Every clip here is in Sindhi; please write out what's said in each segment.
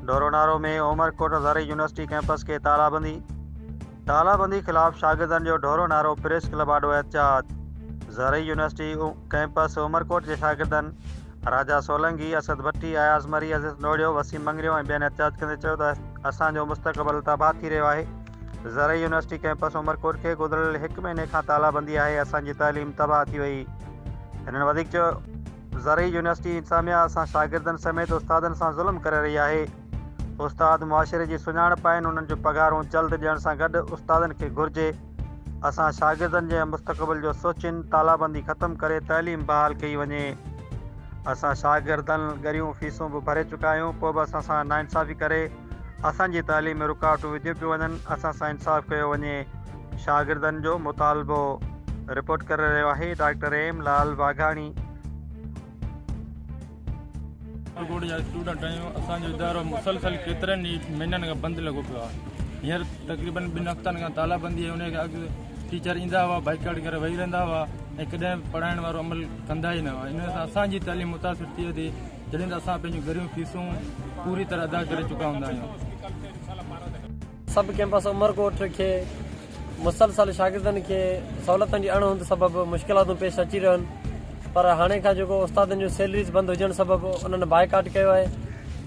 ڍورونارو ۾ عمرڪوٽ زرعي يونيورسٽي ڪيمپس کي تالابندي، تالابندي خلاف شاگردن جو ڍورونارو، پريس ڪلب آڏو احتجاج، زرعي يونيورسٽي ڪيمپس عمرڪوٽ جي شاگردن راجا سولنگي، اسد ڀٽي، اياز مري، عزيز نوڙيو، وسيم مڱريو ۽ ٻين احتجاج ڪندي چيو ته اسان جو مستقبل تباهه ٿي رهيو آهي، زرعي يونيورسٽي ڪيمپس عمرڪوٽ کي گذريل هڪ مهيني کان تالابندي آهي، اسان جي تعليم تباهه ٿي وئي، هنن وڌيڪ چيو. زرعي يونيورسٽي انتظاميا اسان شاگردن سميت استادن سان ظلم ڪري رهي آهي استاد معاشري جي سڃاڻپ آهن انهن جو پگهارون جلد ڏيڻ سان گڏ استادن کي گهرجي اسان شاگردن جي مستقبل جو سوچين تالابندي ختم ڪري تعليم بحال ڪئي وڃي اسان شاگردن ڳريون فيسون به ڀري چڪا آهيون پوء به اسان سان ناانصافي ڪري اسان جي تعليم ۾ رڪاوٽون وڌيون پيون وڃن اسان سان انصاف ڪيو وڃي شاگردن جو مطالبو رپورٽ ڪري رهيو آهي ڊاڪٽر ايم لال واگهاڻي. ڪاٺيگوڙ جا اسٽوڊنٽ آهيون اسان جو ادارو مسلسل ڪيترن ئي مهينن کان بند لڳو پيو آهي هينئر تقريبن ٻن هفتن کان تالابندي آهي ان کان اڳ ٽيچر ايندا هئا بائڪاٽ ڪري ويهي رهندا هئا ۽ ڪڏهن پڙهائڻ وارو عمل ڪندا ئي نه هئا ان سان اسان جي تعليم متاثر ٿئي ٿي جڏهن ته اسان پنهنجون گهريون فيسون پوري طرح ادا ڪري چڪا هوندا آهيون سب ڪيمپس عمرڪوٽ کي مسلسل شاگردن کي سهولتن جي اڻ هوند سبب مشڪلاتون پيش اچي رهن پر هاڻي کان جيڪو استادن جون سيلريز بند هجڻ سبب انهن بائيڪاٽ ڪيو آهي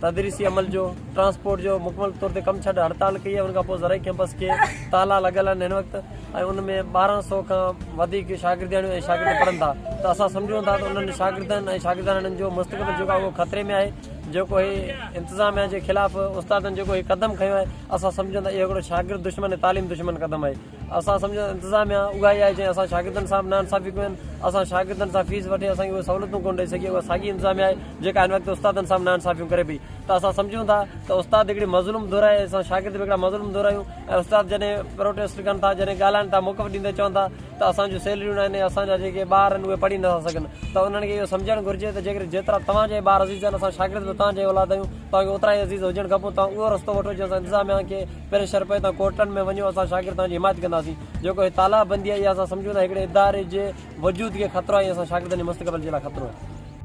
تدريسي عمل جو ٽرانسپورٽ جو مڪمل طور تي ڪم ڇڏ هڙتال ڪئي آهي ان کانپوء زرعي ڪيمپس کي تالا لڳل آهن هن وقت ۽ ان ۾ ٻارهن سئو کان وڌيڪ شاگردياڻيون ۽ شاگرد پڙهن ٿا ته اسان سمجهون ٿا ته انهن شاگردن ۽ شاگردياڻين جو مستقبل جيڪو آهي اهو خطري ۾ آهي جيڪو هي انتظاميا جي خلاف استادن جيڪو هي قدم کنيو آهي اسان سمجهون ٿا اهو هڪڙو شاگرد دشمن ۽ تعليم دشمن قدم آهي اسان سمجهون ٿا انتظاميا اها ئي آهي جنهن اسان شاگردن سان به نا انصافي ڪيون آهن اسان شاگردن سان فيس وٺي اسان کي اهي سهولتون ڪونه ڏئي سگهي اها ساڳي انتظاميا آهي جيڪا هن وقت استادن سان به نا انصافيون ڪري پئي ته اسان سمجهون ٿا ته استاد هڪڙي مظلوم ڌر آهي اسان شاگرد به هڪڙا مظلوم ڌر آهيون ۽ استاد جڏهن پروٽيسٽ ڪن ٿا جڏهن ڳالهائن ٿا موقف ڏيندي چون ٿا ته اسان جون سيلريون ناهن ۽ اسان جا جيڪي ٻار آهن اهي پڙهي نٿا سگهن ته انهن کي اهو سمجهڻ گهرجي ته جيڪڏهن جيترا توهان جا ٻار عزيز آهن اسان شاگرد به توهان جا ئي اولاد آهيون توهان کي اوترا ئي عزيز هجڻ کپون توهان اهو رستو وٺو جنهن سان انتظاميا کي پريشر پئي توهان ڪورٽن ۾ وڃو اسان شاگرد توهان جي حمايت ڪنداسين جيڪو هي تالاب بندي آهي اها اسان سمجهون ٿا هڪڙي اداري جي وجود کي خطرو آهي ۽ اسان شاگردن جي مستقبل جي لاء خطرو آهي